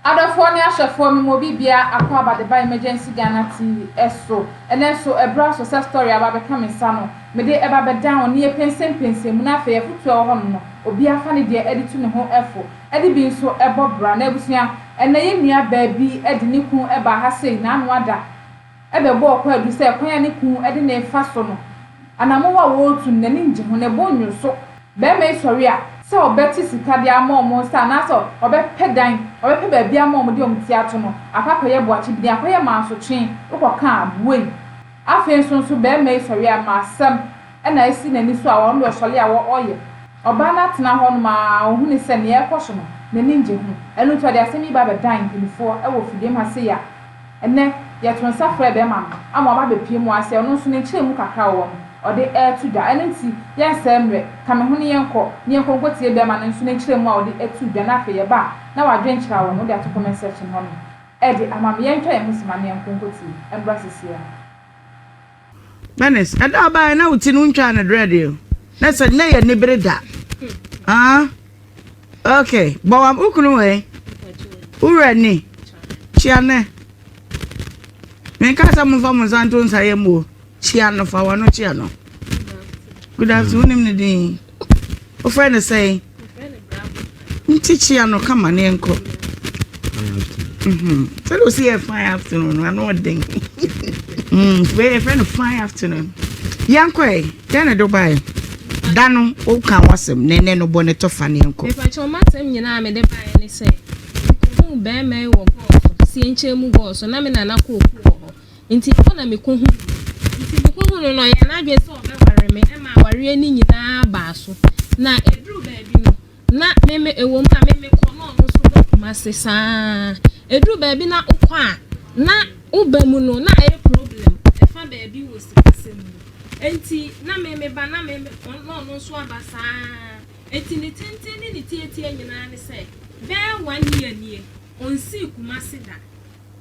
Adɔfoɔ ne ahwɛfoɔ me mo bi bia akɔ abadeba emergency Ghana TV so ɛnɛ nso ɛberɛ aso sɛ story a aba abɛka me nsa no me de ɛba bɛ down ne yɛ pensem pensem mu na afei afutuo a ɛwɔ hɔ nom no obia fa ne deɛ ɛde tu ne ho fo ɛde bi nso ɛbɔ bra na abusua ɛnɛ yɛ nua baa bi de ne kunu ɛbaa ha sei na ano ada bɛbɔɔ kwaadu sɛ kwan a ne kunu de no refa so no, anammɔn a ɔretu no, n'ani ngye ho, ne bo nnwo so. Barima yi sɔre a, sɛ ɔbɛkye sika de ama wɔn nsa anaasɛ ɔbɛpɛ dan, ɔbɛpɛ baabi ama wɔn de wɔn ti ato no, akɔ akɔyɛ boakyibini, akɔyɛ mansotwe, wokɔka a, buei. Afei nso nso, barima yi sɔre a, ma asɛm na asi n'ani so a, ɔno deɛ ɔsɔre a, ɔyɛ. Ɔbaa no atena hɔ nom ara, ɔhunuu sɛ nea ɛrekɔ so no, n'ani ngye ho. Ɛno nti, ɔde asɛm yi ba bɛdan mpanimfoɔ wɔ fidiem ha sei a, Ɛnnɛ, yɛto nsa frɛ bɛrima no ama waba abɛpue mu ara sɛ ɔno nso ne nkyerɛmu kakra a ɔwɔ no, ɔde reto dwa. Ɛno nti, yɛnsɛe mmerɛ, ka me ho ne yɛnkɔ, ne yɛnkɔ nkɔtie bɛrima no nso ne nkyerɛmu a ɔde reto dwa, na afei yɛba a, na wadwene kyerɛ a wɔn, wode ato comment section hɔ nom, rede ama me. Yɛntwa yɛn ho simma na yɛnkɔ nkɔtie. Ɛmmra seesei ara. Bernice, ɛda a ɔbaeɛ na wo ti no wontwaa no drɛ deɛ na sɛ nyɛ yɛ nibere da ah ok bɔ wa wo kunu wei wowura ni kyia ne menka sɛ momfa mo nsa nto nsa yɛ mmuo kyia no fa wano kyia no good afternoon wonim ne din Wofrɛ no sɛn? Nkyekyea no kama ne nkɔ. Mhm. Sɛdeɛ ɔsi yɛ fine afternoon no, ano ɔden. Mm, wei yɛfrɛ no fine afternoon. Yɛnkɔ ɛ, dɛn na ɛde wobaeɛ? Da no, woka ho asɛm, na ɛnɛ no bɔ ne tɔ fa ne yɛnkɔ. Mepakyɛ ɔma asɛm nyinaa a mede baeɛ ne sɛ, mekɔhuu bɛrima yi wɔ gɔɔ so, sienkyɛn mu gɔɔ so, na me nana kɔɔ kuo wɔ hɔ. Enti ɛhɔ na mekɔhuu no. Enti mekɔhuu no no, ɔyɛɛ n'adwene sɛ ɔbɛware me, ɛmaa awareɛ no nyinaa baa so. Na ɛduruu baabi no, na me me, ɛwɔ mu a me mekɔ na ɔno nso ba Kumasi saa ara. Ɛduru baabi na wokɔ a, na woba mu no, na ɛyɛ problem ɛfa baabi wɔ sikasɛm mu. Enti na me meba na me me, ɔn, na ɔno nso aba saa ara. Enti ne tenten ne ne tiatia nyinaa ne sɛ, bɛyɛ one year nie, ɔnsii Kumasi da.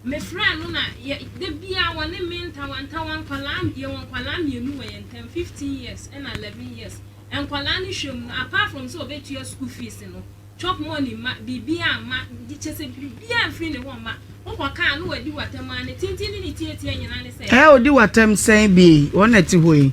Mefrɛɛ no na yɛ da biara wɔne me ntawantawa nkwadaa yɛwɔ nkwadaa mmienu wɔ yɛn ntam fifteen years ɛna eleven years nkwadaa no hwɛ mu no apart from sɛ ɔbɛtua school fees no chop money mma biribiara mma gye kyɛ sɛ biribiara mfiri ne hɔ mma wokɔ kaa no wadi w'atam a ne tenten ne ne tiatia nyinaa ne sɛ. Ɛɛ ɔdi w'atam sɛn bie wɔn na ɛte hɔ yi.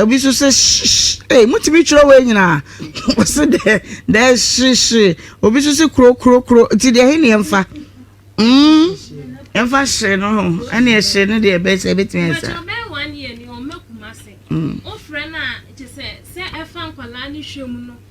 Obi nso sɛ shh ee motumi twerɛ wei nyinaa wɔse dɛ dɛ hyehye obi nso se kuro kuro kuro nti deɛ he ne yɛmfa mm yɛmfa hye no ho ɛne ɛhye no deɛ ɛbɛsɛ ɛbɛtumi ɛsa mm.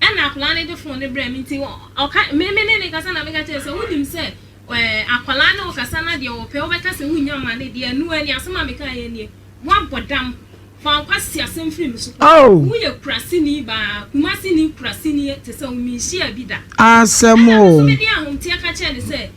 Ɛnna akwadaa no de fon no brɛɛ me nti ɔka me me ne no rekasa na meka kyerɛɛ no sɛ, wonim sɛ akwadaa ne wo kasa na deɛ ɔpɛ wobɛka sɛ wonnya mma no deɛ ɛno ara ni, asɛm a mekaeɛ nie, woabɔ dam, fa wo kwasi asɛm firi me so kɔ, woyɛ Kuraseni baa, Kumasini Kuraseni te sɛ wo, menhyiaa bi da. Ɛnna me nso mede ahomteɛ ka kyerɛɛ no sɛ.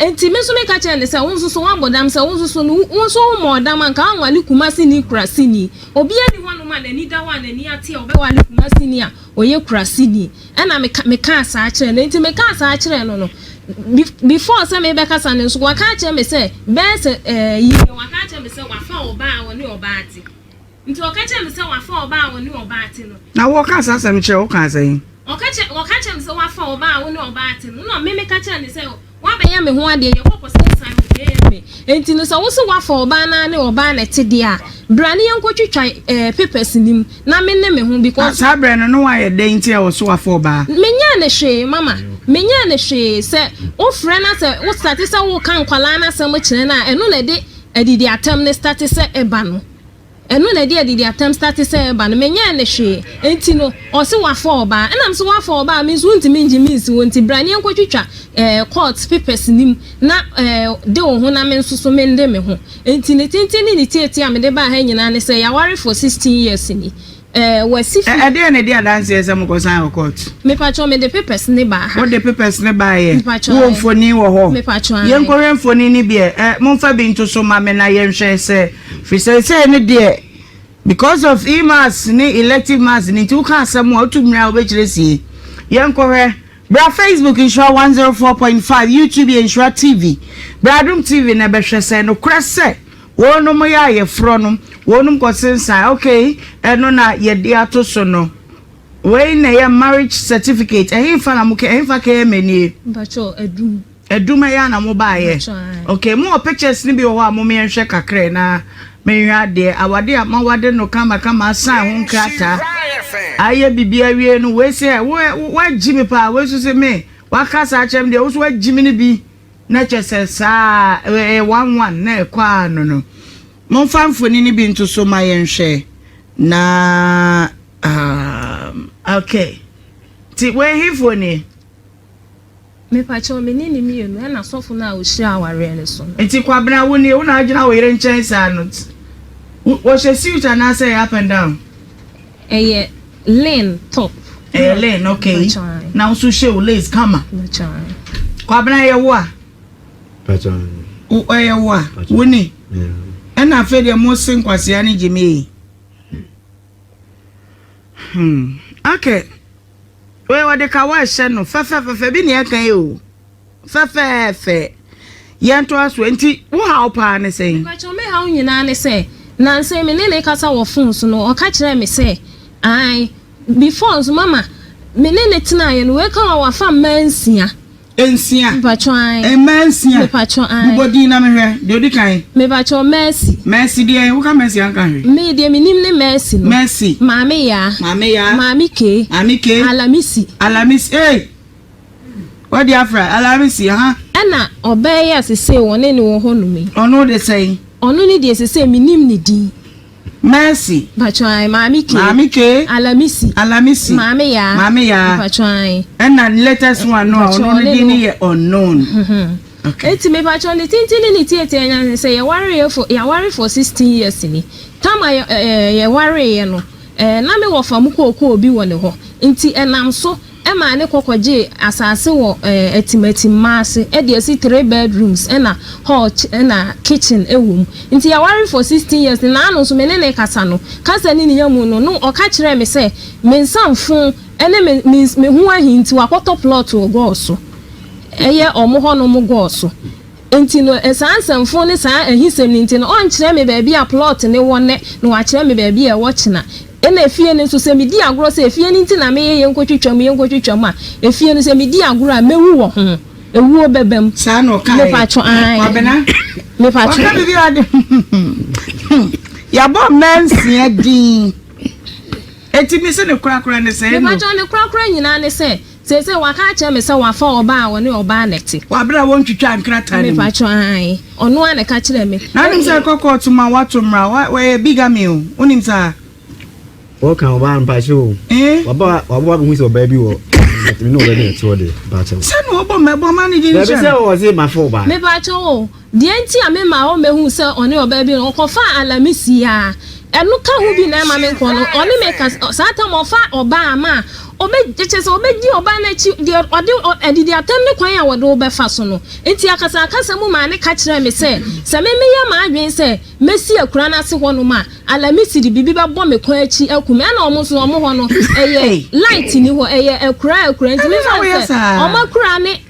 Enti me nso meka kyerɛɛ no sɛ, Wo nso so woabɔ dam sɛ wo nso so no, wo nso wommɔɔ dam a, anka woanwale Kumasini, Kurasini? Obiara nni hɔnom a n'ani da hɔ a n'ani ate a ɔbɛwale Kumasini a ɔyɛ Kurasini. Ɛnna meka, mekaa saa kyerɛɛ no. Enti mekaa saa kyerɛɛ no no, be, before sɛ merebɛkasa no nso, waka akyerɛ me sɛ, bɛyɛ sɛ, ɛɛ, yiye, waka akyerɛ me sɛ wafa ɔbaa a ɔne ɔbaa te. Nti wɔka kyerɛɛ me sɛ, Wɔafa ɔbaa a ɔne ɔbaa te no. Na wɔka saa asɛm no kyerɛɛ wo kaa sɛn? Ɔka kyerɛ, wɔka kyerɛɛ me sɛ, Wɔafa ɔbaa a ɔne ɔbaa te no. Ɛnna me meka kyerɛɛ no sɛ, Woabɛyɛ me ho adeɛ, yɛkɔ kɔsensan wɔ JMA. Enti no, sɛ wose wɔafa ɔbaa no ara ne ɔbaa na ɛte deɛ a, bra na yɛnkɔtwitwa ɛɛ papers no mu na me ne me ho because. Na saa berɛ no, na woayɛ dɛn nti a wɔse wɔafa ɔbaa? Menyɛɛ no hwee, mama. Menyɛɛ no hwee. Sɛ wofrɛ na sɛ wo starte sɛ woreka nkwadaa no asɛm kyerɛ no a, ɛno na ɛde adidiatɛm no starte sɛ ɛba no. Ɛno na ɛde adidi atɛm starte sɛ ɛba no menyɛɛ no hwee enti no ɔse wafa ɔbaa ɛna mese wafa ɔbaa a me nso wontumi ngye me nsi hɔ nti bra ne yɛnkɔ twitwa ɛɛ court papers no mu na ɛɛ de wo ho na me nso so mende me ho enti ne tenten ne ne tiatia a mede baa ha nyinaa ne sɛ yɛawarefo sixteen years ni Ɛɛ, wasi fi. Ɛdeɛn na ɛdi adanseɛ sɛ mokɔsan wɔ court? Mepakyɛw, mede papers no baa ha. Wode papers no baeɛ? Mepakyɛw, Wowɔ ae. mfonin wɔ hɔ? Mepakyɛw, ae. Yɛnkɔhwɛ mfonin no bi ɛ. Ɛ, momfa bi nto so ma me na yɛnhwɛ sɛ, firi seesei no deɛ, because of E-Maths ne Elective Maths no nti, woka asɛm a, wotu mmira a, wobɛkyerɛ sie. Yɛnkɔhwɛ. Bra Facebook nhyira one zero four point five YouTube yɛ nhyira TV bra adom TV na bɛhwɛ sɛ nokorɛ sɛ wɔnom yɛ ayeforɔ no wɔnom kɔ sensan ok ɛno na yɛde ato so no wei na ɛyɛ marriage certificate ɛhefa na mo kɛ ɛhefa kɛyɛ mɛ nie. Mpakyɛw adum Adum ɛyɛ a na mo baa yɛ okay mo wɔ pictures no bi wɔ hɔ a mo me nhwɛ kakrɛ na me nhwɛ adeɛ awade a ma wade no kama kama asan ho nkrataa ayɛ bibi awie no wei sɛ wo wo wagyi me paa wei so sɛ me waka saa kyɛm deɛ wo so wagyi me no bi na kyɛ sɛ saa ɛyɛ one one na ɛkɔ a no no mo nfa mfoni no bi nto so ma yɛ nhwɛ na um, okay ti wei hefoɔ nie. Mepakyɛw me ne ne mmienu ɛna sɔfo no a ɔhyira awareɛ no so no. Nti kwabena wo nie wo na agyina wo yere nkyɛn saa no wɔhyɛ suit anaasɛ ɛyɛ up and down. Ɛyɛ len top. Ɛyɛ len ok na wo nso hyɛ wo lace kama kwabena ɛyɛ wo a ɛyɛ wo a wo ni ɛna afei deɛ mo se nkwasea ne gyimii hmm okay. Wei wɔde ka wɔ ɛhyɛ no fɛfɛɛfɛ bi na yɛka yi o fɛfɛɛfɛ yɛn to aso nti wo haw paa ne sɛn. Mpakyɛw me haw nyinaa ne sɛ nansa me ne ne kasa wɔ phone so no ɔka kyerɛɛ me sɛ ae before nso mama me ne no tenaeɛ no wei ka wa wafa mmaa nsia. Nsia. Mpatsɔ ae. Mmaa nsia. Mepatsɔ ae. Bobɔ din na mehwɛ. Deɛ odi kan. Mepatsɔ Mercy. Mercy deɛn? Woka Mercy anka hwee. Me deɛ menim ne Mercy no. Mercy. Maame Yaa. Maame Yaa. Maame Kay. Maame Kay. Alamisi. Alamisi ee! Wadi afra. Alamisi aha. Ɛna ɔbaa yi a sesei wɔne no wɔ hɔnom yi. Ɔno de sɛn? Ɔno ne deɛ sesei menim ne din. Mercy. Mpatsɔ ae, Maame Kay. Maame Kay. Alamisi. Alamisi. Maame Yaa. Maame Yaa. Mpatsɔ ae. Ɛna latest one no a ɔno no din no yɛ unknown. Okay. Eti mepatsɔ ne tenten ne ne tietie anya ne sɛ yɛwaree for yɛaware for sixteen years ni. Tam a yɛ ɛɛ yɛwareeɛ no ɛɛ na me wɔ fam kookoo bi wɔ ne hɔ nti ɛnam so Ɛmaa ne kɔ kɔgyee asase wɔ atimatim maase de asi three bedrooms na hall na kitchen wɔ mu. Nti yɛware for sixteen years ne naano nso me ne no rekasa no kasa ne ne ya mu no no ɔka kyerɛɛ me sɛ me nsa mfo ne me me ho ahi nti wakɔtɔ plot wɔ Gɔɔ so ɛyɛ wɔn hɔnom Gɔɔ so. Nti no, saa nsɛmfoo ne saa ahisɛm no nti no, ɔnkyerɛ me baabi a plɔt no wɔ nnɛ na wakyerɛ me baabi a ɛwɔ kyena. Ɛna efie no nso, sɛ medi agorɔ sɛ efie no nti na meyɛ yɛnkɔtwitwa mu, yɛnkɔtwitwa mu a, efie no, sɛ medi agorɔ a, mɛwu wɔ ho. Ewuo bɛba mu. Saa na ɔkaeɛ. Mepatwo, ae. Kwabena, Mepatwo. waka biribi a ɔde hmm. Yɛabɔ mmaa nsia din. Enti me se ne korakora ne sɛ no. Mepatwo, ne korakora nyinaa ne sɛ. Seesei wɔaka akyerɛ me sɛ wɔafa ɔbaa a ɔne ɔbaa na ɛte. Wɔ bere a wontwitwaa nkrataa no mu. Mepakyɛw, aane. Ɔno ara na ɛka kyerɛɛ me. Na wonim sɛ ɛkɔ kɔɔto ma wɔato mmara. Wa, wayɛ bigamy o. Wonim saa? Woka ɔbaa no, mepakyɛw o. Eeh? Waba, wabɔ abɛhu sɛ ɔbaa bi wɔ hɔ. Me ne ɔbaa bi na ɛte hɔ deɛ, mepakyɛw. Sɛnea wɔbɔ mmɛbɔ ma no din nhyɛ no. Dabi, sɛ ɔse mafa ɔbaa. Mepakyɛw o, Deɛ nti a memaa wɔmmɛhuu sɛ ɔne ɔbaa bi no, ɔkɔfaa alame siaa. Ɛno ka ho bi na ɛma menkɔ no. Ɔne me ka sɛ, saa tam a ɔfa ɔbaa ma a, ɔbɛ, kyerɛ sɛ ɔbɛdi ɔbaa no akyi, deɛ ɔde, ɔ, adidi atam ne kwan a wɔde wo bɛfa so no. Enti akasakasa mu maa no ka kyerɛɛ me sɛ, sɛ me meyɛ m'adwene sɛ mɛsi akura no ase hɔnom a, alame si de biribi bɛbɔ me kwan akyi aku me. Ɛna wɔn nso, wɔn hɔ no, ɛyɛ, light nni hɔ, ɛyɛ akuraa akuraa, enti mefa no sɛ wɔn akuraa ne.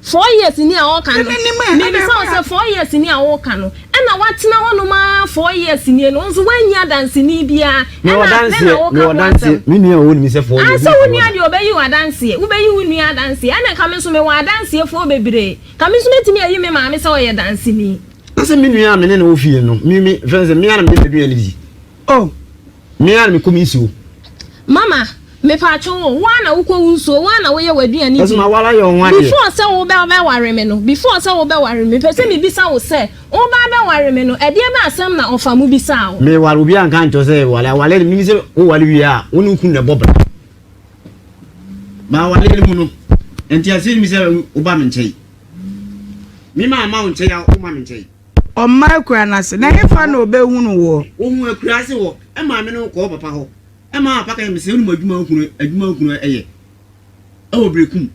Four years ni a ɔɔka no, mebisa wo sɛ four years ni a wooka no, ɛna woatena hɔ nom aa four years nie no, wo nso woanyi adanseni biaa, ɛna afei na woka ho asɛm. Aah sɛ wo nua deɛ ɔbɛyi wo adanseɛ, wobɛyi wo nua adanseɛ, ɛna nka me nso mewɔ adanseɛfoɔ bebree, nka me nso mɛtumi ayi me maame sɛ ɔyɛ danseni. Na sɛ me nua a me ne no wɔ fie no, me, me, mfrɛ no sɛ, me ara na meyɛ m'aduane di. Oh! Me ara na mekɔ me nsuo. Mama, mepaatwo wo, wo ara na wokɔ wo nsuo, wo ara na woyɛ w'aduane di. Ɛso ma wala yɛ ɔho adeɛ. Before sɛ wo bɛ bɛ ware me no, before sɛ wo bɛ ware me, mepɛ sɛ me bisa wo sɛ, wo ba bɛ ware me no, ɛdeɛ bɛ asɛm na ɔfa mu bisaa wo? Me ware obiara nka nkyerɛ wo sɛ wale, awale no menim sɛ wo wale wie a, wo ne wo kunu na ɛbɔ bra. Ba awale no mu no, ɛnti aseɛ nim sɛ wo ba me nkyɛn. Me ma ama wo nkyɛn a, wo ma me nkyɛn. Ɔmma akuraa no ase, na hefa na ɔbɛhunu woɔ? Ɔhuu akuraa ase hɔ, ɛmaa me ne wo kɔɔ papa hɔ, ɛmaa papa ka kyerɛɛ me sɛ, Wonim adwuma hunu, adwuma hunu yɛ, ɛwɔ berɛ ko mu.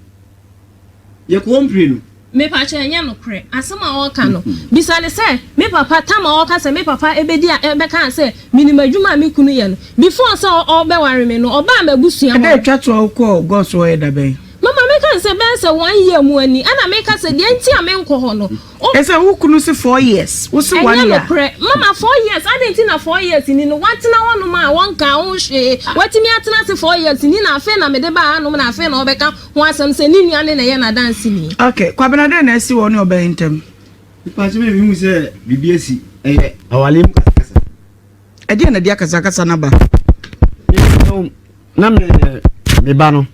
Yɛkɔ hɔ mprenu. Mepakyɛw ɛnyɛ nokorɛ asɛm a ɔreka no. Bisa no sɛ, Me papa, tam a ɔka sɛ me papa bɛdi a ɛbɛkaa sɛ menim adwuma a me kunu yɛ no, before sɛ ɔbɛware me no, ɔbaa m'abusua hɔ. Ɛda a ɛtwa toɔ a wokɔɔ Gɔs hɔ yɛ da bɛn? Mama, mɛka no sɛ ɛbɛyɛ sɛ one year mu ani, ɛna meka sɛ deɛ nti a menkɔ hɔ no, Ɛsɛ wo kunu se four years wo se one year a. Ɛnyɛ nokorɛ mama four years adɛn nti na four years ni no watena hɔ nom a wɔnkaa ho hwee watumi atena ase four years ni na afei na mede baa ha nom na afei na ɔbɛka ho asɛm sɛ ne nua ne na ɛyɛ n'adanseni. Ok Kwabena dɛn na asi wɔ wo ne ɔbaa yi ntam. Mepatwo me mehu sɛ biribi asi ɛyɛ awale mu kasakasa. Ɛdeɛn na ɛde akasakasa no aba. Mesrɛ wo na me ne me ba no.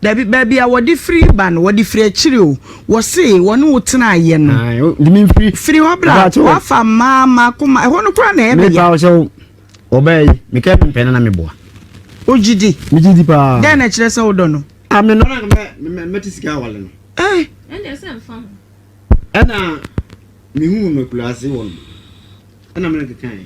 Dabi baabi a wɔde firi ba no wɔde firi akyiri o wɔse wɔne wo tena ayɛ no firi hɔ bra wafa mmaa mmaa koma ɛhɔ no kora na ɛyɛ bɛyɛ. mepa sɛ ɔbaa yi meka ɛpem pɛ no na meboa. ogye di megye di paa dɛn na ɛkyerɛ sɛ wodɔ no. ame no mɛte sika awale no. ɛna mehu no akuraase wɔ no ɛna mene kekae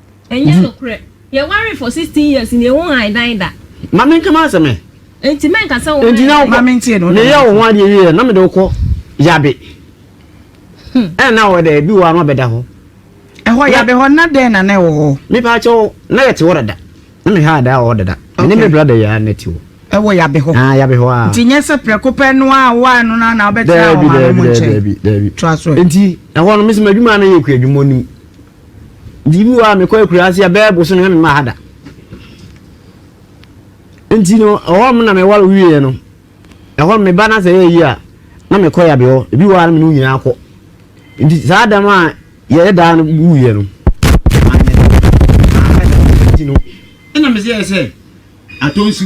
Ɛnyɛ nokorɛ. Yɛwaree for sixteen years na eho han dan da. Ma menka m'asɛm ɛ. Enti mɛnka sɛ wo han dan. Ma mentie no. Meyɛɛ wo ho adeɛ wieɛ na mede wo kɔ Yabe. Ɛna na ɔwɔ dɛ? Bi wɔ hɔ a na ɔbɛda hɔ. Ɛhɔ Yabe hɔ na dɛn na na ɛwɔ hɔ? Me paa kyɛw na yɛte hɔ dada. Na me haa daa wɔ hɔ dada. Me ne me brada yi ara na ɛte hɔ. Ɛwɔ Yabe hɔ? Aa Yabe hɔ aa. Nti nyɛ sɛ prɛko pɛ no ara a wowae no no ara na wobɛtena wo maame mo nkyɛn? Daabi daabi daabi. Toa so ɛ. Enti ɛhɔ no me nso m'adwuma a na yɛkura adwuma onim. Biribi wɔ a mekɔ akuraase a bɛyɛ boso no na mema ha da. Nti no ɛhɔ nom na meware wieɛ no ɛhɔ nom meba na sɛ ɛyɛ yie a na mekɔ yabe hɔ ebi wɔ a na mene wo nyinaa kɔ nti saa dɛm a yɛyɛ daa no wuyɛ no ɛna mesɛ yɛ sɛ atɔ nsu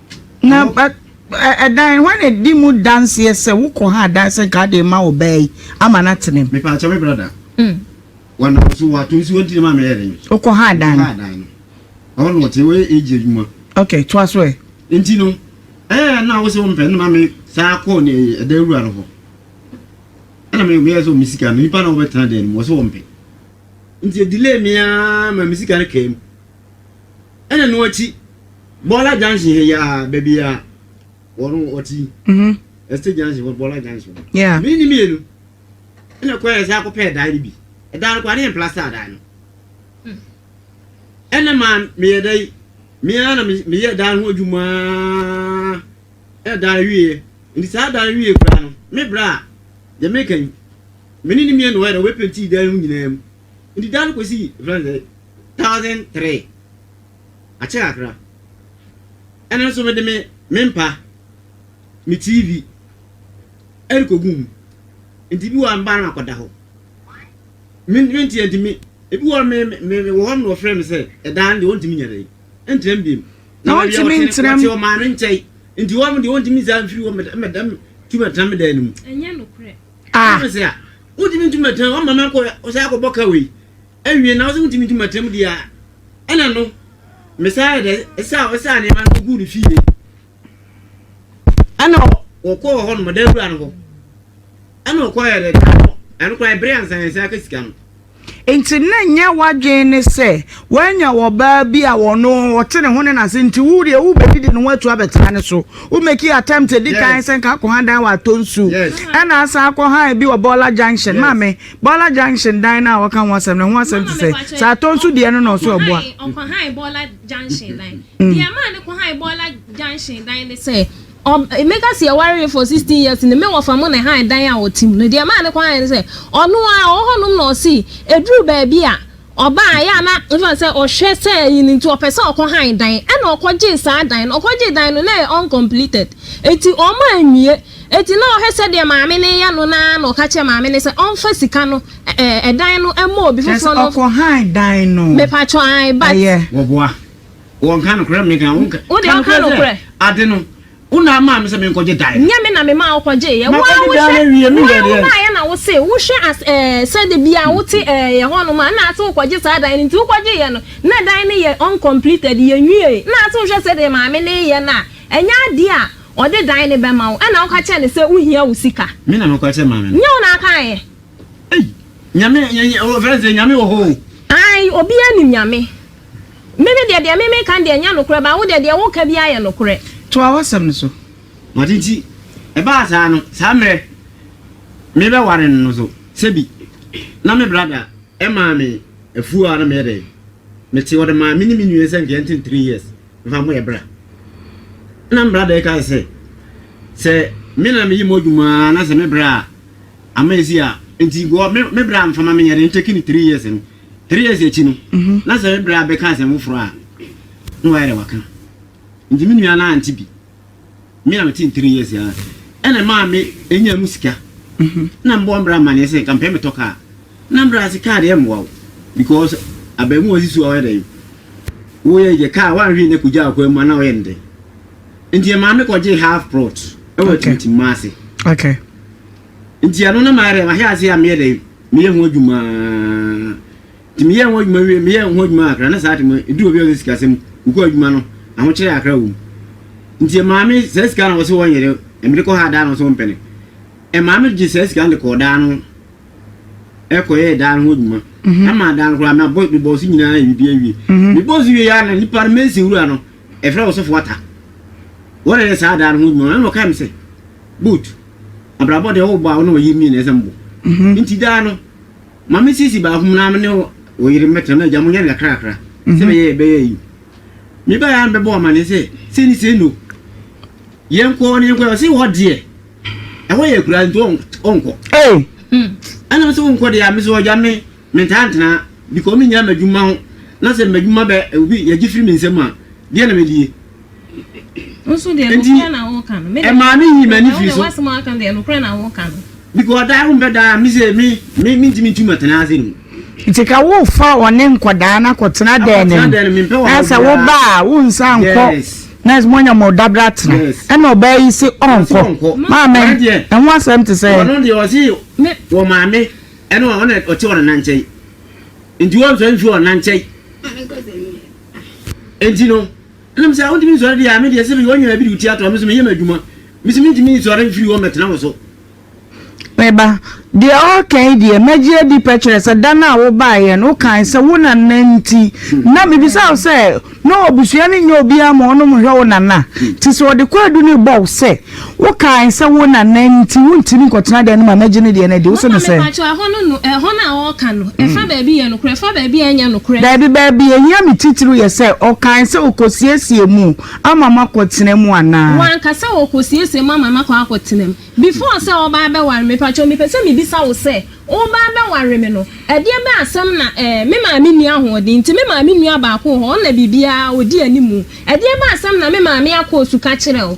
Na ɛdan hɔ na di mu danseɛ sɛ wokɔ ha adanse nka ade ma wo baa yi ama no atene mu. Mepaakyɛ me brada. Mm. Wɔnam so wɔato nsi wɔn ti na maa meyɛ den. Wokɔ ha adan. Wokɔ ha adan no. Ɔwɔ no wɔte wɔyɛ age adwuma. Okay, toa so ɛ. Nti no, ɛɛ na wosɛ wɔn pɛ no ma me saa kɔɔ ne ɛdan wura no hɔ. Ɛna me meyɛ sɛ wɔn sika no nipa na wɔbɛtena dan no mu wɔsɛ wɔn pɛ. Nti delay me ara ma me sika no kaa mu. Ɛna no akyi Bɔla junction hɛ yɛ a baabi a wɔn wɔte mhm. Estate junction wɔ Bɔla junction no. Mene ne mmienu ɛna kɔ yɛ sɛ akɔpɛ ɛdan no bi. Ɛdan no kɔ ne yɛn plasta adan no. Hmm. Ɛna maa meyɛ dɛ yi mea na meyɛ dan ho adwuma ɛdan wie nti saa dan wie kura no me bra deɛ meka yi mene ne mmienu wɔ yɛ dɛ wɔbɛpenti dan mu nyinaa mu. Enti da no kɔsi friends sɛ thousand three akyɛ kakra ɛno nso mede me me mpa me tv ɛrekɔgu mu nti bi wɔ a mba no akɔda hɔ menteɛ nti me ebi wɔ me me wɔ hɔ no wɔfrɛ me sɛ ɛdaa no deɛ wɔntumi nyɛ dɛ ɛntena mu biom na wɔntumi ntena mu wɔte ɔmaa no nkyɛn nti wɔn deɛ wɔntumi nsa mfiri wɔn mɛdɛm tumi ɛtena me dan no mu ɛnyɛ nokorɛ ah Wontumi ntu mɛtɛm ɔma me akɔ ɔsɛ akɔbɔ ka wei awie na ɔsɛ wontumi ntu mɛtɛm deɛ a ɛna no mesaa yɛ dɛ ɛsaa ɔsaa nneɛma no gu ne fie ɛna wɔkɔɔ hɔ no mɔda awura no hɔ ɛna ɔkɔɔ yɛ dɛ ɛno koraa ɛbere ansa yɛn nsa aka sika no Enti na ɛnyɛ w'adwene ne sɛ woanya ɔbaa bi a ɔno ɔte ne ho ne n'ase nti wo deɛ wobɛdidi ne ho atu abɛtra ne so. Wo make attempt ɛdi kan sɛ nka akɔha dan wɔ Atonsu ɛna asan akɔha bi wɔ Bɔɔla Junction. Maame, Bɔɔla Junction dan no a wɔka ho asɛm no ɛho asɛm te sɛ sɛ Atonsu deɛ no na ɔsɛ ɔboa. Ɔkɔhae Bɔɔla Junction dan. Deɛ ɛmaa no kɔhae Bɔɔla Junction dan ne sɛ, Ɔb mɛka sɛ yɛwaree for sixteen years no, me wɔfa mo na ɛhan dan a ɔte mu no. Deɛ ɛmaa ne kwan han no sɛ, ɔno ara ɔwɔ hɔnom na ɔse ɛduru baabi a, ɔba a ɛyɛ a na ɛfa no sɛ ɔhwɛ sɛ ayi no nti ɔpɛ sɛ ɔkɔ han dan. Ɛna ɔkɔgyee saa dan no. Ɔkɔgyee dan no, na ɛyɛ uncompleted. Enti ɔmma anwie. Enti na ɔhwɛ sɛdeɛ maame no reyɛ no no ara na ɔka kyerɛɛ maame no sɛ ɔmfa sika no, ɛ ɛ ɛdan no, ɛmmɔ obi Kyerɛ foforɔ sɛ no. ɔkɔ han dan no. Mepa kyɛw, ae, but. Ɛyɛ. Wɔboa. Wɔnka nokorɛ me nka wonka. Wo deɛ ɔka nokorɛ. Ade no wo na amaa me sɛ me nkɔgye dae no. Nyɛ me na memaa wo kɔgyee yɛ. Wo ara wo hwɛ wo ara wo baayɛ na wo se wo hwɛ as ɛɛ sɛ de bia wo te ɛɛ yɛ hɔ nom a na ase wo kɔgye saa dan no nti wo kɔgyee yɛ no na dan no yɛ uncompleted yɛ nwiee na ase wo hwɛ sɛdeɛ maame no yɛ no a ɛnyɛ adeɛ a ɔde dan no bɛma wo ɛna wo ka kyerɛ no sɛ wo hia wo sika. Me na me kɔ kyerɛ maame no. Nyɛ wo na akaeɛ. Ei nyame nyɛ nyɛ o fɛn sɛ nyame wɔ hɔ o. Ae obiara nim nyame. Me me deɛ, deɛ me meka no deɛ ɛnyɛ nokorɛ, but wo deɛ, deɛ woka biara yɛ nokorɛ. Toa w'asɛm no so. Wɔte nti ɛbaa saa no, saa mmerɛ merebɛware no no nso, sɛbi na me brada maa me afuo a na meyɛ dɛn, mete, ɔde maa me ne me nua sɛ nka yɛnte no three years mfa mmɔ yɛn bra. Ɛna me brada yi kae sɛ, sɛ me na meyɛ mu adwuma ara na sɛ me bra a, ama ɛsi a, nti nka me bra mfa ma me, yɛde nkyɛke no three years no. Three years akyi no, na sɛ me bra bɛka asɛm foforɔ a, na wayɛ dɛ waka. Nti me nua no ante bi. Me a mete three years ara, ɛna ɛmaa me nyaa mu sika. Na mebɔ me bra amaneɛ sɛ nka mepɛ metɔ kaa. Na me bra se kaa deɛ ɛmmoa wo because abaamuwa ɔsi so a woyɛ dɛn? Woyɛ gye kaa woanhwee nyɛ kɔgyaa wo kwan mu a na woyɛ no dɛn? Nti ɛmaa me kɔgyee half plot ɛwɔ Atimtimma ase. Nti ɛno na mayɛ dɛn? Mahwe aseɛ a meyɛ dɛn? Meyɛ ho adwuma nti meyɛɛ ho adwuma wie meyɛɛ ho adwuma akra na saa tema edu obi a ɔsɛ sika sɛm wokɔ adwuma no ahokyerɛ akra wom nti ɛmaa me saa sika na wɔsɛ wɔnyere ɛmede kɔ ha daa na wɔsɛ wɔmpɛ no ɛmaa me gye saa sika no de kɔɔ daa no ɛkɔyɛɛ daa no ho adwuma ɛmaa daa no koraa mabɔ mebɔɔ so nyinaa yɛ biribi awie mebɔɔ so wie yɛ na nipa no mɛsi wura no ɛfrɛ wɔsɔfo ata wɔna yɛ saa daa no ho adwuma ɛna ɔkae me sɛ boot Abrabɔ deɛ wobɔ a wo ne ɔyere mmienu ɛsɛ mo bɔ nti daa no ma me sisi baako mu na me ne ɔyere mmɛtena na agya mo nyɛ no kakra kakra sɛ bɛyɛ yɛ bɛyɛ yi me ba yɛ a bɛbɔ amane sɛ sɛ ni sɛ no yɛn kɔ ne yɛn kɔ ɔsi hɔ deɛ ɛhɔ yɛ kura nti ɔnkɔ ɛna mo sɛ ɔnkɔ deɛ a me sɛ ɔgya me me ntaa ntena because me nyina m'adwuma ho na sɛ m'adwuma bɛ obi yɛgye firi me nsam a deɛ na mɛdie Enti, ɛmaa me yii m'ani firi so. Because ɔdaa wompɛ daa me sɛ me me mentumi ntu matena ase no mu. Nti ka wofa ɔne nkɔdaa no akɔtena dɛn no mu na sɛ woba a wonsa nkɔ na moanya mo dabra tena ɛna ɔbaa yi se ɔnkɔ maame ɛho asɛm te sɛ ɔno deɛ ɔse wɔ maame ɛna ɔte ɔnana nkyɛn nti wɔmfa mfi ɔnana nkyɛn Enti no, ɛna me sɛ, Wontumi nsɔre deɛ a, me deɛ sɛ meyɛ ɔnwene a bi de wo ti ato a, me nso meyɛ m'adwuma. Me se mentumi nsɔre mfiri hɔ mmɛtena wo so. Me ba, deɛ woreka yi deɛ, mɛgye adi pɛkyerɛ sɛ da no a wobaeɛ no, wokae sɛ wo nana nti na mebisaa wo sɛ na ɔbusua no nyɛ obiara ma ɔnom hwɛ wo nana te sɛ ɔde kwaadu no rebɔ wo sɛ, Wokae sɛ wo na na nti wontumi nkɔtena dan no mu a mɛgye ne deɛ no adi. Wose no sɛ. Mama mepakyɛw ɛhɔ no no ɛhɔ no a ɔɔka no ɛfa baabi yɛ nokorɛ ɛfa baabi a ɛnyɛ nokorɛ. Daabi baabi ɛhia me titiriw yɛ sɛ ɔkae sɛ ɔkɔsiesie mu ama makɔ tena mu anaa. Wanka sɛ ɔkɔsiesie mu ama makɔ akɔ tena mu. Before sɛ ɔɔba abɛware me mepakyɛw mepɛ sɛ mebisa wo sɛ woba abɛware me no ɛdeɛ bɛn asɛm na ɛɛ me maame nni ahoɔden nti me maame nua baako wɔ hɔ ɔna biribiara ɔdi animu ɛdeɛ bɛn asɛm na me maame akɔ suka kyerɛ wo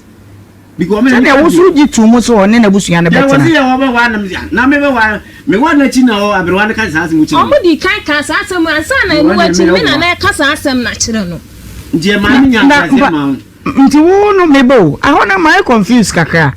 Sɛdeɛ wo nso wogye too mu sɛ ɔne n'abusua no bɛtena. Wɔdii kan kaa saa asɛm yi ansa na ɛno akyi no, me na na reka saa asɛm no akyerɛ no. Nti wo no me ba o, ɛhɔ no mayɛ confused kakra.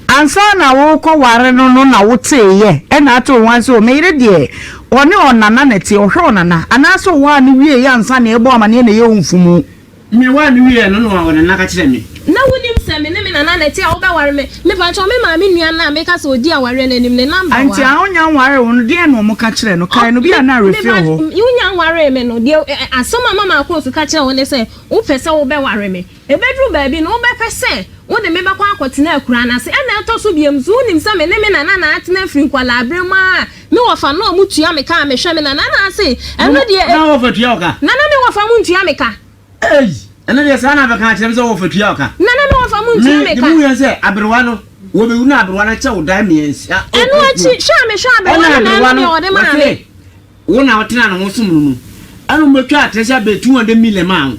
Ansa na worekɔware no no na woteeɛ, ɛna atoo wo ho ara sɛ o, me yere deɛ ɔne ɔnana na ɛteɛ, ɔhwɛ ɔnana, anaasɛ ɔwaa no wieeɛ ansa na ɛrebɔ amanneɛ na ɛyɛ wo mfunumu? Mewaa no wieɛ no na ɔde no aka kyerɛɛ me. Na wonim sɛ me ne me nana na ɛte a wobɛware me? Mepakyɛw, me maame nua no a meka sɛ ɔdi awareɛ no anim, ne number wɔ ha. Ɛnti a wonya nwaree wo no, deɛn na wɔka kyerɛɛ no? Kae no, bi a na awerɛfie wɔ hɔ. Wonya nwaree me no, deɛ asɛm a mama Akoosu ka kyerɛɛ wo ne sɛ wopɛ sɛ wobɛware me. Ɛbɛduru baabi no, wobɛpɛ sɛ wode me bɛkɔ akɔtena akuraa no ase. Ɛna ɛtɔ so biom nso, wonim sɛ me ne me nana na atena firi nkwadaa berɛ mu ara Me wɔfa na ɔmo tua me ka a mehwɛ me nana na ase ɛno deɛ e. Na wɔfa tua wo ka. Nana me wɔfa mo ntua me ka. Ei! Ɛno deɛ saa na bɛka akyerɛ me sɛ wɔfa tua wo ka. Nana me wɔfa mo ntua me ka. Me de mu yɛn sɛ aberewa no wɔbɛwu na aberewa no akyɛ wo dan mmiɛnsa. Ɛno akyi hwɛ a mehwɛ aberewa no na ɛno deɛ ɔde maa me. Wo na wotena ne ho som no mu ɛna ɔmo bɛtwa atrɛsɛ abɛtu wɔn de million maa wo.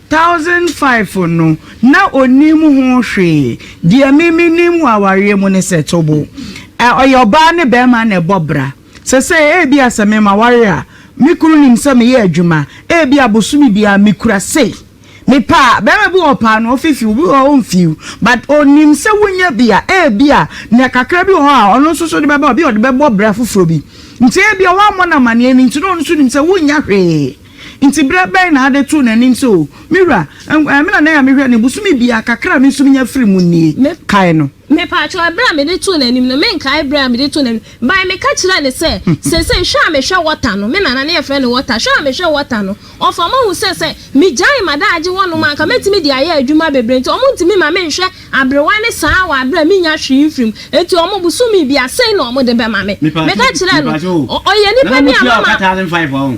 Thousand five no na ɔnim ho hwee deɛ me me nim wɔ awareɛ mu ne sɛ tobo ɛ ɔyɛ ɔbaa ne barima na ɛbɔ bra sɛsɛɛ ebia sɛ me ma ware a me kunu nim sɛ me yɛ adwuma ebia bosome biara me kura sei me pɛ a barima bi wɔ ɔpaa no ɔfi fiw obi wɔ hɔ ɔnfiw but ɔnim sɛ wo nya bi a ebia nea kakra bi wɔ hɔ a ɔno nso so de bɛba obi ɔde bɛbɔ bra foforɔ bi nti ebia woammɔ no amaneɛ no nti na ɔno nso nim sɛ wo nya hwee. Nti berɛ bɛn na ade too n'anim sɛ, O me wura, ɛɛ me na na ɛyɛ a mehwɛ no, bosome biara, kakra a me nso menya firi mu nie. Me kae no. Mepaakyɛw, ɛberɛ a mede too n'anim no, me nkae berɛ a mede too n'anim no, bae me ka kyerɛɛ no sɛ, Seesei, hwɛ a mehwɛ wɔta no, me nana ne yɛfrɛ no wɔta, hwɛ a mehwɛ wɔta no, ɔfa ma hu sɛ, sɛ me gyae m'adaagye hɔ nom a, anka mɛtumi de ayɛ adwuma bebree, nti wɔn ntumi ma me nhwɛ aberewa ne saa wɔ aberɛ a me nnya hwee mfiri mu, nti wɔn, bosome biara, sei na wɔn de bɛma me. Meka kyerɛɛ no, Ɔyɛ nipa bi a mama.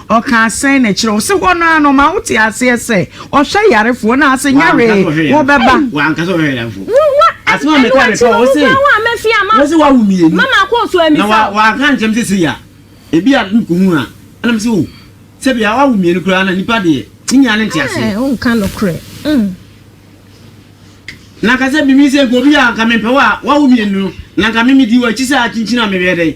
Ɔkaa sɛn na akyire ɔse hɔ no ara no ɔmaa wo te aseɛ sɛ ɔhwɛ yarefoɔ na ase nyaree wo bɛba. Wanka sɛ ɔhwɛ yarefoɔ. Wo wa asem a meka meka wo se wo se wawo mmienu mama kɔ so amisa wo. Na wanka nkyɛm sɛ sei a ebi a me kɔhu a ɛna me se oh sɛ bia wawo mmienu koraa na nipa deɛ ne nyinaa ne nte aseɛ. Ɛɛ wonka nokorɛ mm. Na nka sɛ mimi sɛ nka obi a nka mempɛ wo a wawo mmienu no na nka mimi di wɔ akyi sɛ akyinkyin a mebɛyɛ dɛn.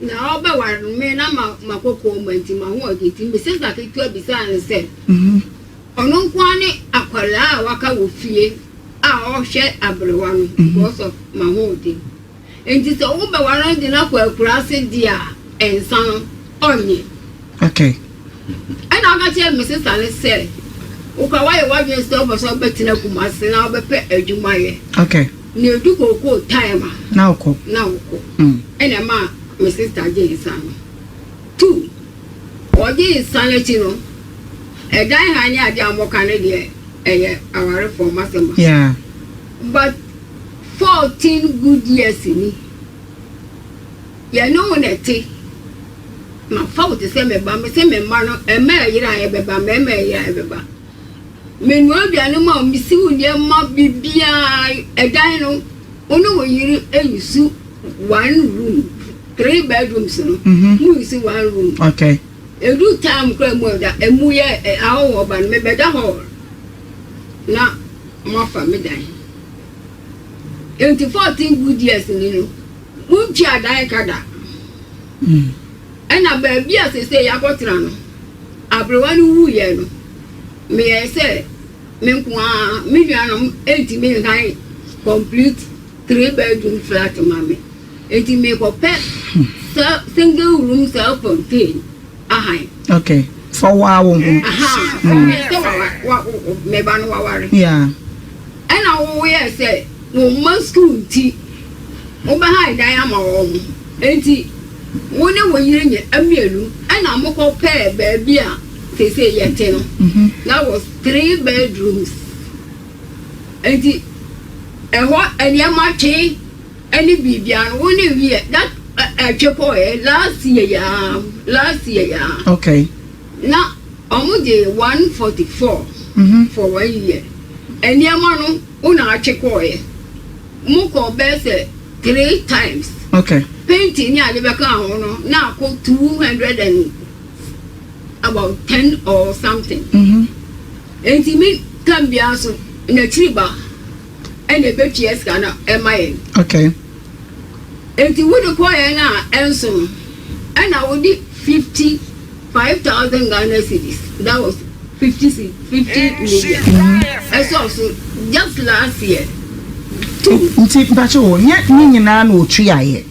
Na ɔbɛware no, me na ma ma kɔkɔɔ ma nti ma ho ɔdwe nti Misisba ketewa bisaa no sɛ ɔno nko ara ne akwadaa a waka wɔ fie a ɔhwɛ aberewa no because of ma ho ɔdwe nti sɛ wobɛware no de no akɔ akuraase deɛ a nsa no ɔnnye. Okay. Ɛna ɔka kyerɛɛ me sista no sɛ, Wo koraa woayɛ w'adwene sɛ wopɛ sɛ wobɛtena Kumasi na wobɛpɛ adwuma ayɛ. Okay. Na edu kookoo time a. Na wokɔ. Na wokɔ. Mm. Ɛna ɛma me sista gye nsa no. Two, ɔgye nsa no akyi no, ɛdan ha ne adeɛ a wɔka no deɛ ɛyɛ awarefoɔ mo asɛm a. Yeah. But fourteen good years ni yɛne wo na ɛte. Mafa wo te sɛ me ba, mese me mma no, mma a ɛyera a ɛbɛba, mmarima a ɛyera a ɛbɛba. Menoa aduane ma wo, misi wo nneɛma biribiara, ɛdan no, wo ne wo yere nsu one room, three bedrooms no, mm-hmm. mu nsi one room. Okay. Edu time kura mu ɛda, emu yɛ ahɔhɔ ba no, mebɛda hɔ na wɔafa me dan. Nti fourteen good years ni no. Wontua dan ka da. Ɛna baabi a sesei yɛakɔtena no, aberewa no wuiɛ no, meyɛɛ sɛ me nko ara, me nuanom ntumi nhan complete three bedroom flat ma me, nti mekɔpɛ single room self contained. Okay, fa wo ara wo ho. Woyɛ sɛ wa wo mmɛba no waware. Yeah. Ɛna woyɛ sɛ wɔn mma sukuu nti wobɛhae dan ama wɔn. Enti wo ne wo yere nyɛ mmienu ɛna mokɔ pɛɛ baabi a seesei yɛte no. That was three bedrooms. Enti ɛhɔ nneɛma twe. Ɛne biribiara no wo ne wiɛ that ɛtwe kɔ ɛ last year yaa last year yaa. Okay. Na ɔmo gye one forty four. Mhm. For one year nneɛma no wo na atwe kɔ ɛ mo kɔ bɛɛ sɛ three times. Okay. Painting ne ade bɛ ka ho no na akɔ two hundred and about ten or something. Mhm. Enti me tam biara so na akyiri ba. ɛna ebetua sika no ɛma yɛn. Okay. Enti wode kɔ yɛn a ɛnso no ɛna wode fifty five thousand Ghana cedis that was fifty si fifty million mm-hmm. ɛsɔ so just last year. Nti mpakyɛ wɔ nyɛ ne nyinaa na otua yɛ.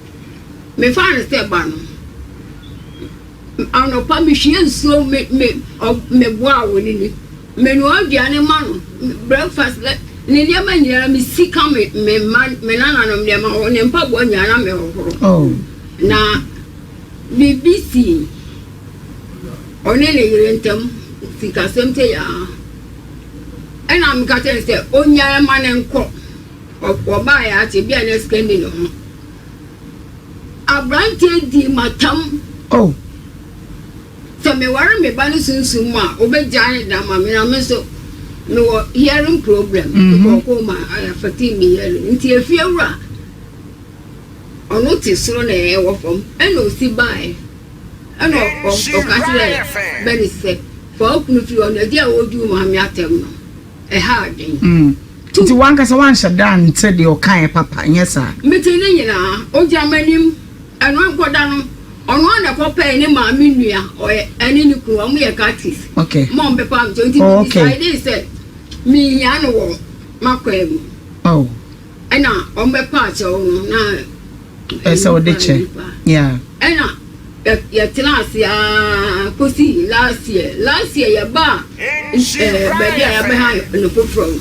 Mefaa no sɛ ba no. Anɔpa mehwie nsuo me me meboa a ɔnini. Menoa aduane ma no, breakfast, ne nneɛma nyinaa mesi ka me me mma me nananom nneɛma ho, ne mpaboa nyinaa na mehohoro. Oh. Na biribi sii ɔne ne yere ntam sikasɛm sɛ yaa. Ɛna meka kyerɛ no sɛ ɔnyae ma no nkɔ. Wɔbaeɛ ara tebea a na sika nni ne ho. Aberanteɛ dii m'atam. Oh! Sɛ meware me ba no sunsum mu a, wobɛgyaa ne da ama me na me nso mewɔ hearing problem, glaucoma, ɛyɛ affecting me hearing. Nti efiewura, ɔno te soro na yɛn wɔ fam, ɛna ɔsi baeɛ. Ɛna ɔka kyerɛɛ Bernice sɛ, Fa wo kunu firi hɔ, na di a wɔredi wo maame atɛm no. Ɛha adwene. Mm. Two. Nti w'ankasa woanhyɛ da nte deɛ ɔkaeɛ papa, nyɛ saa? Mete ne nyinaa. Ogya m'anim. Ɛno ankɔda no, ɔno ara na ɛkɔpɛe ne maame nua, ɔyɛ, ɛne ne kunu, wɔyɛ Curtis. Okay. Mom bɛpa nkyɛn. Nti Oh, okay. medisaedee sɛ menhia no wɔ m'akwaa mu. Oh. Ɛna wɔbɛpa kyɛw no na. Ɛsɛ sɛ wode kyɛ. Yeah. Ɛna yɛ tena ase aa kosi last year last year yɛ ba ɛɛ baabi a yɛbɛ ha no foforɔ no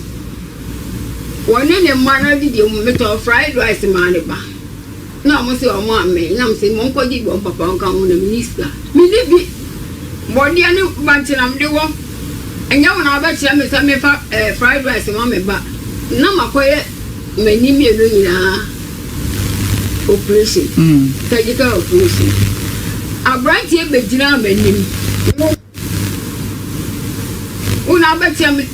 wɔne ne mma no didi wɔn metɔ fried rice maa ne ba na wɔn sɛ wɔn amɛ na wɔn sɛ wɔn kɔ gye wɔn papa wɔn ka wɔn na mini sika mini bi bɔdeɛ ne bankyinam de wɔ ɛnyɛ wɔn abɛkyerɛ me sɛ mefa ɛɛ fried rice ma me ba na makɔyɛ m'ani mmienu nyinaa. oprehyɛn, surgical oprehyɛn. Abranteɛ bɛgyinaa m'anim, wo, wo na wobɛkyɛ me,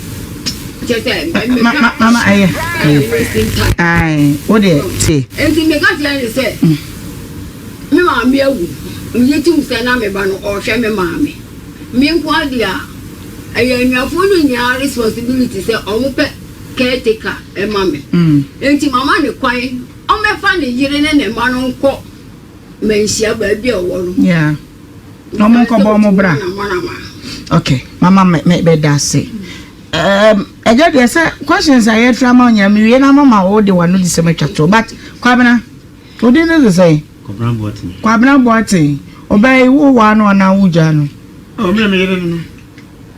kyɛ sɛ meka. Mama ɛyɛ. Ɛyɛ wasting time. Ae, wo deɛ te. Enti meka kyerɛ no sɛ, me maame awu, megye tom sɛ na me ba no ɔrehwɛ me maame. Me nkoa deɛ a, ɛyɛ anuafoɔ no nyinaa responsibility sɛ wɔpɛ. caretaker ma me. Enti mama no kwan ɔmmɛfa ne yere ne ne mma no nkɔ manhyia baabi a ɔwɔ no. Yeah. Ɔmo Mekae sɛ nkɔbɔ ɔmo otumi bra. na mo na ma. Okay, mama me me bɛda ase. Um, ɛgya deɛ sɛ questions a yɛfiri ama wo nyinaa mewie na mama wo de wano di sɛm atwa to but Kwabena, wo din no de sɛn? Kɔbena Boaten. Kwabena Boaten, ɔbaa yi wo waa no anaa wo gyaa no? Oh, me na me yere no no.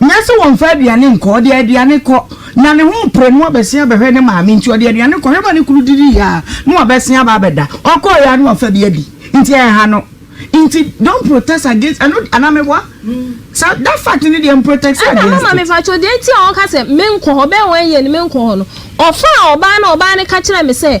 Ná sɛ wɔmfa aduane nkɔ, ɔde aduane kɔ. Ná ne ho repere na wabɛsen abɛhwɛ ne maame nti, ɔde aduane kɔ. Hwɛ ma ne kunu didi yɛ a, na wabɛsen aba abɛda. Ɔkɔeɛ ara na wafa bi adi. Nti ɛnha no. Nti don't protest against ɛno de, anaa meboa? Sa, that fact no deɛ mprotɛste Ɛna against mama it. mepakyɛw deɛ nti a ɔka sɛ menkɔ hɔ, bɛyɛ one year ni menkɔ hɔ no, ɔfaa ɔbaa na ɔbaa no ka kyerɛɛ me sɛ,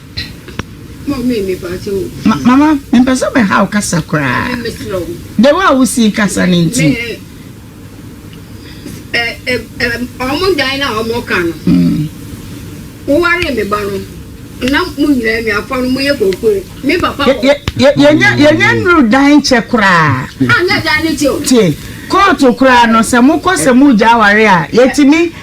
Mama, mempɛ sɛ mɛha wo kasa koraa. The way a wosii kasa no nti. Wɔn dan no a wɔka no, wowaree me ba no, na mo nyinaa anuafoɔ no moyɛ koko. Me papa wɔ. Yɛnyɛ nnuru dan kyɛ koraa. Anyɛ dan no kyɛ o. Tie, kóòtù koraa no, sɛ mokɔ sɛ mogya aware a, yɛtumi.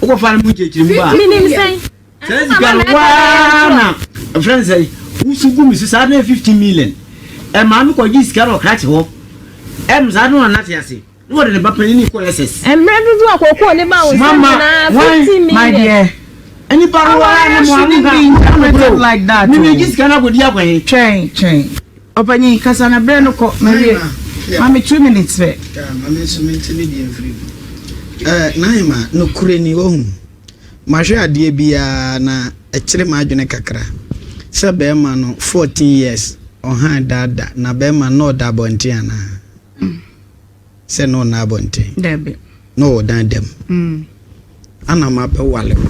wokɔ fa no mu nkyɛkyerɛ mu a menim sɛn saa sika no waa na ɛfrɛ no sɛ wosu gu me so saa na 15 million ɛmaa me kɔgye sika no ɔkrakye hɔ ɛm saa no anate ase na wɔde ne ba panyin kɔ ss mmerɛ dodoɔ a kɔkɔɔ ne ba wo sɛ nyinaa 15 million ɛnipa no waa na mo ano ka like that mimi gye sika no akɔdi akɔhe twɛn twɛn Ɔpanyin, kasa na berɛ no kɔ. Mawie. Ma me two minutes pɛ. Yaa, ma me nso mente ne deɛ mfiri mu. Eh, Naima, nokorɛ ni, woahu, mahwɛ adeɛ bi ara na ɛkyere m'adwene kakra, sɛ bɛrima no, fourteen years, ɔhan da da, na bɛrima no na ɔda abɔnten anaa? sɛ na ɔnna abɔnten. Dabi. Na ɔwɔ dan dam. Mm. Ana ɔma bɛwale wo.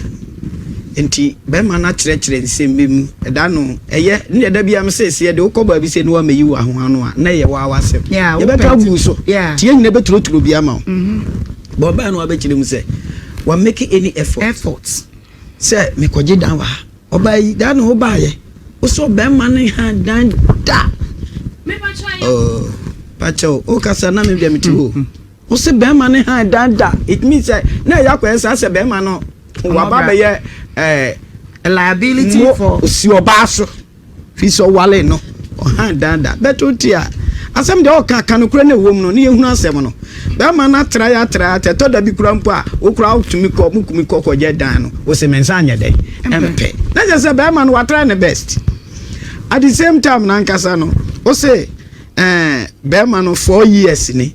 Nti bɛrima no akyerɛkyerɛ nsɛm bi mu. Ɛda no ɛyɛ ne deɛ da biara sɛ ɛsi ɛde wokɔ baabi sɛ ne wamɛyi wo ahoa no a na ɛyɛ waa w'asɛm. Yeah, Yɛbɛka agu so. Yeah. Nti yɛn nyina bɛturoturo bi ama wo. Mm-hmm. Bɔ ɔbaa no wabɛkyerɛ mu sɛ wa make any effort. Effort. Sɛ mekɔgye dan wɔ ha. Ɔbaa yi daa na ɔbaa yɛ. Wosɛ ɔbɛrima no ha dan da. Oh, pakyɛw, wokasa na me deɛ mete hɔ. Mm-hmm. Wosɛ bɛrima no ha dan da. It means sɛ na ɛyɛ akɔyɛ saa sɛ bɛrima no waba bɛyɛ ɛɛ eh, liability for osi ɔbaa so. Fi sɛ ɔwaree no, ɔhaa daa da. Bɛto te a, asɛm deɛ ɔɔka, ka nokorɛ na ɛwom no, ne yɛhunu asɛm no. Bɛɛma no atra yɛ atra yɛ atra, ɛtɔ da bi koraa mpo a, wo koraa wo tumi kɔ, mo kumi kɔ kɔ gyɛ dan no, wo se me nsa nyɛ dɛn? Ɛmpɛ. Na kyerɛ sɛ bɛɛma no watry ne best. At the same time no ankasa no, wo se ɛɛ bɛɛma no four years ni.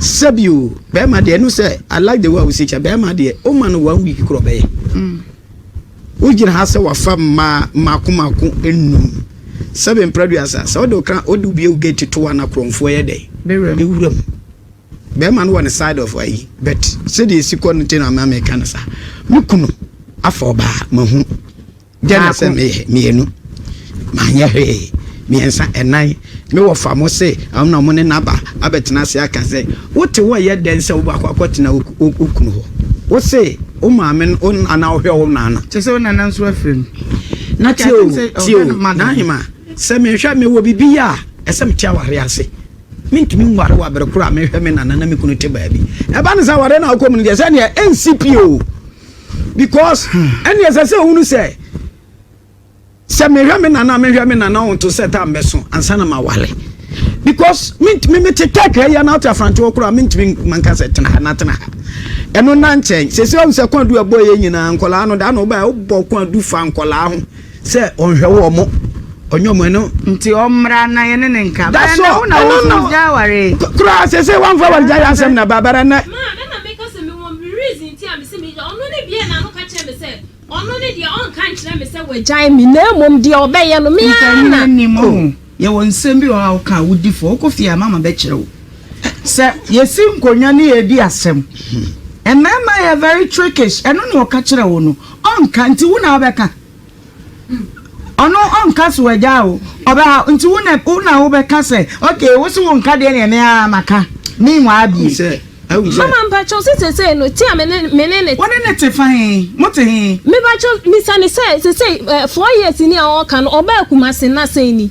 sɛbio bɛrima deɛ ɛno sɛ i like the way wosi kyɛ bɛrima deɛ o ma no one week korɔ bɛyɛ mm. wogyina ha sɛ wafa mmaa mmaako mmaako enum sɛbi mpɛrɛduasa sɛ ɔde ɔka ɔde obi ewu gate to wa na korɔnfoɔ yɛ dɛ ewura mu bɛrima no wɔ ne side of ayi but sɛdeɛ esi kɔ no ti na ama mi ka no sa me kunu afa ɔbaa ma hu Dɛn na sɛ meyɛ? Mmienu, manyɛ hwee. Mmiɛnsa, ɛnan, me wɔfa mo se ɔno na ɔmo ne no aba abɛtena ase aka sɛ, Wo te hɔ yɛ dɛn sɛ wobɛkɔ akɔtena wo kunu hɔ? Wo se wo maame no, wo nana ɔhwɛ wo nana. Kyerɛ sɛ wo nana nso afiri no. Na tie o, tie o, Nahima, sɛ mehwɛ, mewɔ biribi yɛ a, ɛsɛ mete awareɛ ase. Mentumi nware wɔ abere koro a mehwɛ me nana na me kunu te baabi. Ɛba no saa awareɛ no a wokɔ mu no deɛ, sɛdeɛ ɛnsi pii o. because ɛne ɛsɛ sɛ ɔhunu sɛ sɛ mehwɛ me nana mehwɛ me nana ɔnto sɛ ta mbɛso ansa na mawale because mentumi mete tɛk ha yɛ no ate afrante hɔ koraa mentumi manka sɛ tena ha na tena ha ɛno na nkyɛn sɛ sɛ ɔhu sɛ kwan du ɛbɔ yɛ nyinaa nkɔlaa no da na wobaa wobɔ kwan du fa nkɔlaa ho sɛ ɔnhwɛ wɔn mo ɔnyɛ wɔn ɛno. nti ɔmmra na yɛne ne nka. da so ɛno na kura sese wɔn fɛ wɔn gya yɛ asɛm na babara nɛ. maa mi na mi ka sɛ mi wɔ mi reason ti a mi si mi gya ɔno ne deɛ na ano ka kyerɛ mi sɛ ɔno ne deɛ ɔnka nkyerɛ mi sɛ wɔagyae mi na emom deɛ ɔbɛyɛ no mi ara na. nfa ni mo yɛ wɔ nsɛm bi wɔ a ɔka a wodi fɔ ɔkɔ fie a mama bɛ kyerɛ wo sɛ yɛsi nkonnwa ne yɛdi asɛm mmarima yɛ very trickish ɛno na ɔka kyerɛ wo no ɔnka nti wo na wobɛka. Ɔno ɔnka so agya o, ɔbɛha wo nti wo na wo na wobɛka sɛ okay wo se wonka deɛ neɛ me ara maka meanwhile bie. Sɛ ahu sɛ. Mama mpakyɛw sɛ sesei no tea me ne me ne ne. Wo ne ne te fa he? Mo te he? Mepakyɛw bisa no sɛ sesei eh, four years ni a ɔɔka no ɔbaa Kumasi na sɛn ni?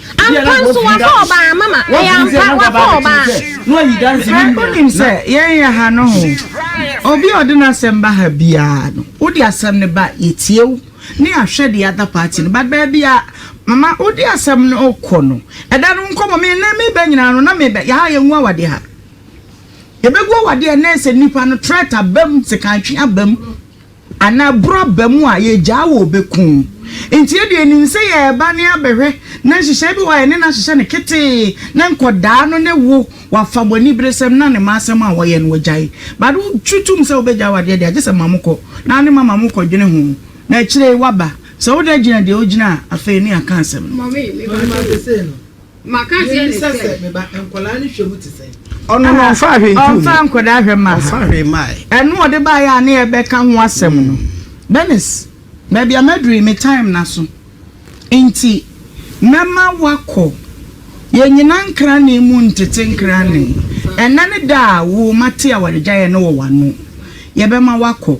Ampa nso wafa ɔbaa mama ɛyɛ ampa wafa ɔbaa. Hwɛ wonim sɛ yɛn yɛ ha noho obi a ɔde n'asɛm ba ha biara no wode asɛm no ba yɛtie wo ne ahwɛ the other party no but baabi a mama wode asɛm no kɔ no ɛda no nkɔmmɔ me nnɛ meba nyinaa no na meba yɛha yɛngu awadeɛ ha yɛbɛgu awadeɛ nnɛ sɛ nnipa no threat abam sekan twe abam Anaa ɛboro aba mu a, yɛgyaa wɔ bɛ ku. Nti yɛ deɛ yɛnim sɛ yɛreba ne abɛhwɛ na nhyehyɛe bi wɔ hɔ a yɛne no ahyehyɛ no ketee na nkɔdaa no ne wo wafa mo aniberesɛm na ne mma asɛm a wɔyɛ no wagyae. But wo gye tom sɛ wo bɛgyaa wɔ adeɛ deɛ a gye sɛ ma mo kɔ na ne mama mo kɔ dwene ho na akyire yi waba. Sɛ wo da gyina deɛ wo gyina a afei ne yɛaka asɛm no. Mebisa sɛ, me ba, nkwadaa no hwɛ mu te sɛn? Ɔno no, ɔmfaa hwee ntoo mu. Ɔmfaa nkwadaa hwɛ mmaa. Ɔmfaa hwee mmaeɛ. Ɛno ɔde baeɛ a ne yɛbɛka ho asɛm no. Bernice, baabi a maduru yi, me time no aso nti, mɛma woakɔ. Yɛnnyina nkranee mu ntete nkranee. Ɛnnɛ ne da a wo mma te awaregyaeɛ no wɔ w'ano. Yɛbɛma woakɔ.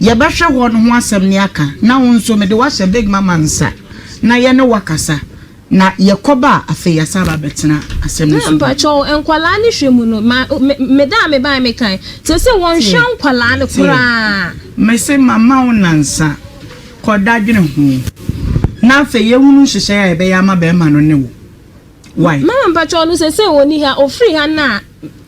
Yɛbɛhwɛ hɔ no ho asɛm ne aka, na wo nso mede wo ahyɛ Big Mama nsa na yɛne wo akasa, na yɛkɔba a, afei yɛasan aba abɛtena asɛm no so bio. Mpakyɛw, nkwadaa no hwɛ mu no, ma, me, me da a mebaeɛ mekae, seesei wɔnhwɛ nkwadaa no koraa. Mese mama wo nnansa, kɔ da dwene ho, na afei yɛnhunu nhyehyɛe a yɛbɛyɛ ama barima no ne wo. Wai? Mama mpakyɛw no seesei ɔnni ha, ɔfiri ha no a,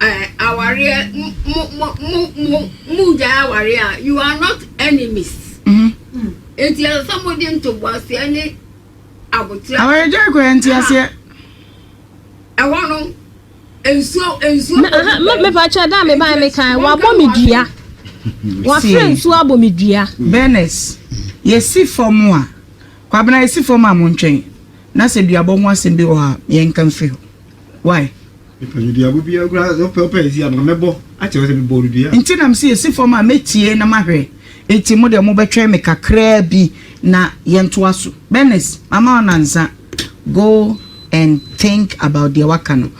Eh awareɛ mo mo mo mo mo gyae awareɛ a you are not enemies nti ɛsɛ sɛ mo de ntoboaseɛ ne aboterɛ awareɛ gyae kɔ yɛ nteaseɛ ɛhɔ no nsuo nsuo Na- aha, me- mepa kyɛ da a mebae mekae wabɔ me dua wafrɛ nsuo abɔ me dua bɛnɛs yɛsi fam a kwabena yɛsi fam a montwɛn na sɛ duabɔ ho asɛm bi wɔ hɔ a yɛnka mfiri hɔ Why? Mepɛ no duaba biara koraa sɛ wopɛ wopɛ ɛsi a nka mɛbɔ akyerɛ sɛ mebɔɔ no dua. Nti na mese ɛsi fam a mɛtie na mahwɛ nti mo deɛ mobɛtwɛn me kakraa bi na yɛntoa so. Bernice mama wo nansa go and think about deɛ waka no.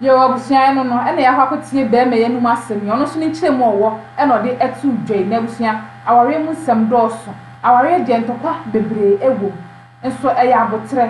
Yoo abusua ɛno no ɛna yɛakɔ akɔtie bɛɛma yi anum asɛm yi ɔno nso ne nkyerɛ mu a ɔwɔ ɛna ɔde ɛtoo dwa yi na abusua awareɛ mu nsɛm dɔɔso awareɛ deɛ ntɔkwa bebree ɛwom nso ɛyɛ aboterɛ.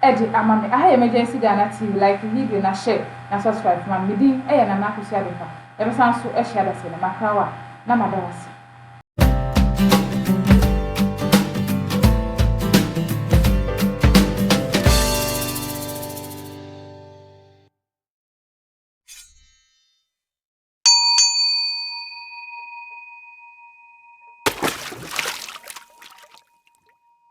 de ama me aha emergency Ghana TV like video na share na subscribe ma me me din yɛ Nana Akosua Adepa yɛbɛsan so ahyia da sɛ ne makra wo a na mada wo ase.